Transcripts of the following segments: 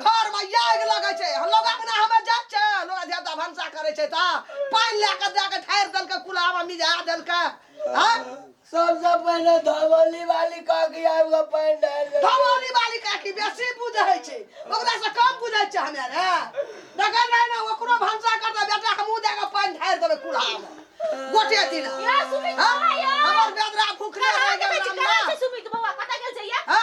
घर में आग लगे छै लोग अंगना हमें जाय छै लोग देवता भनसा करे छै त पान ले के दे के ठार देल के कुला में मिजा देल के हां सबसे पहले धवली वाली का के आब के पान डाल दे धवली वाली का की बेसी बुझे छै ओकरा से कम बुझे छै हमें रे देखै नै ना ओकरो भनसा कर दे बेटा हमहु दे के पान ठार देबे कुला में गोटे दिन या सुमित हां बाबा या हमर बेदरा भूखले रह गेल हमरा सुमित बाबा कत गेल छै या हां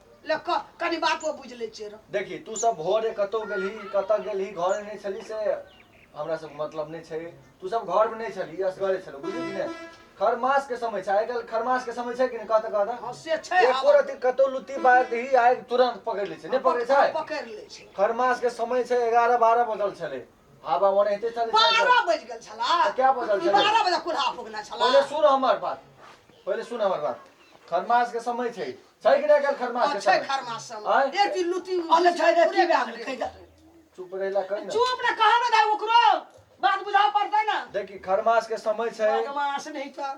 ले क कनी बातो बुझ ले छियै रौ देखी तू सब भोरे कतौ गेलही कतऽ गेलही घरे नहि छली से हमरा सब मतलब नहि छै तू सब घर में नहि छली असगरे छलौ बुझली कि नहि खरमास के समय छै आइ काल्हि खरमास के समय छै कि नहि कहत कहत हँ से छै एको आब रति कतौ लुत्ती बाहर दही आइ तुरंत पकड़ि लै छै नहि पकड़े छै पकड़ ले छै खरमास के समय छै एगारह बारह बजल छलै हवा ओनाहिते छलै साइकिल। बारह बज गेल छला तऽ क्या बजल छलै? बारह बजे कुल्हा फुकना छला पहिले सुन हमर बात पहिले सुन हमर बात खरमास के समय छै छै कि नहि एकर खरमास के छै समय? खरमास सब आँय? ए ती लुती अल्ले छै रे की बात रे कहि दे चुप रहै ला कहि न चुप ना कहा ना दाई ओकरो बात बुझाव पड़ता ना देखी खरमास के समय छै बदमाश नहीं तो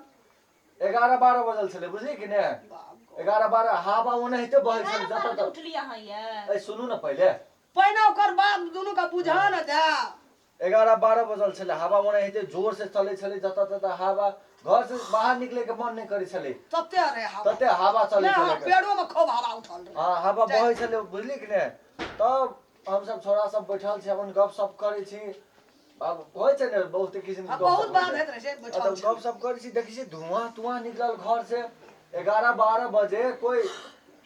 एगारह बारह बजल छलै बुझली कि ने बाप एगारह बारह हवा ओने हेते बहै छलै जतऽ तक उठली अहाँ ये ऐ सुनू ने पहिले पहिने ओकर बाप दुनू का बुझा ना जा एगारह बारह बजल छलै हवा ओना एते जोर से चलै छलै जतऽ ततऽ हवा घर से बाहर निकले के मन नहि करै छलै तते रे हवा तते हवा चलै नहि, छलै हँ, पेड़ो में खूब हवा उठल रहे हाँ हवा जाय बहै छलै बुझली कि ने तब हम सब छोरा सब बैठल छी अपन गप सप करै छी अब होइ छै ने बहुत किसिम के हाँ, गप बहुत सप बात होइत रहै छै बैठल तब छी गप सप करै छी देखै छी धुआं तुआं निकलल घर से एगारह बारह बजे कोई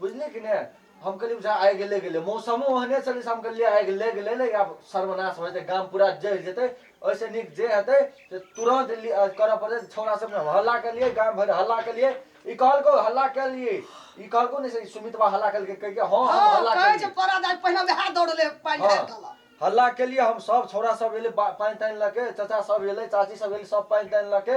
बुझलियै कि नहि हम कहलियै बुझा आइ गेले गेले मौसमो ओहने छलै से हम कहलियै आइ गेले गेले ने आब सर्वनाश हो जेतै गाम पूरा जरि जेतै ओहिसँ नीक जे हेतै से तुरन्त लि- अ, करऽ पड़तै छौड़ा सब ने हल्ला केलियै गाम भरि हल्ला केलियै ई कहलको हल्ला केलियै ई कहलको ने से ई सुमितवा हल्ला केलकै कहि के हँ हम हँ हल्ला कहै केलियै छै परा दाइ पहिने वएह दौड़ले पानि हाँ, ढारि देलक हल्ला केलियै हम सब छौड़ा सब एलै बा- पानि तानि लऽ के चाचा सब एलै चाची सब एलै सब पानि तानि लऽ के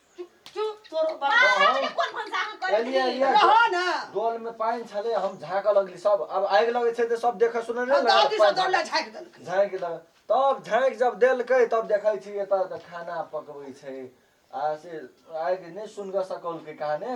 डोल में पानी छले हम झाक लगली सब अब आग लगे छे त सब देखे सुने नहीं दादी सब डोल झाक देल झाक लग तब झाक जब देल के तब देखे छी एत त खाना पकवे छे आ से आग नहीं सुन ग सकल के कहाने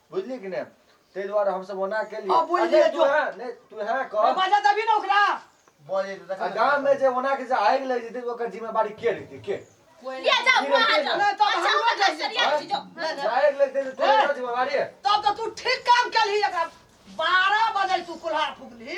बुझली कि ने ताहि दुआरे हमसभ ओना केलियै अब बोलि आ दिअ नहि, जो। तूहे- नहि, तूहे ए, कह बाजा तभी ना ओकरा बोले तो आ देखा गाम में जे ओना के जे आगि लागि जेतै ओकर जिम्मेवारी के लेतै के ले जाओ बुआ हाथ जाओ। नहीं, तब अच्छा हम ओकर नहीं सरिया जाएंगे। छी जाओ ले जा। आगि लागि जेतै तो ओकर जिम्मेवारी है तब तो तू ठीक काम कलही एकरा बारह बजे तू कुल्हार फूकली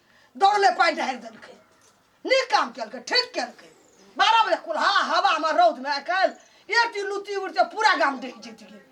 दौड़ले पानि ढारि देलकै नीक काम केलकै ठीक केलकै बारह बजे कुल्हा हवामे रौदमे आइ काल्हि एटी लुत्ती उड़िते पूरा गाम डहि जैतियै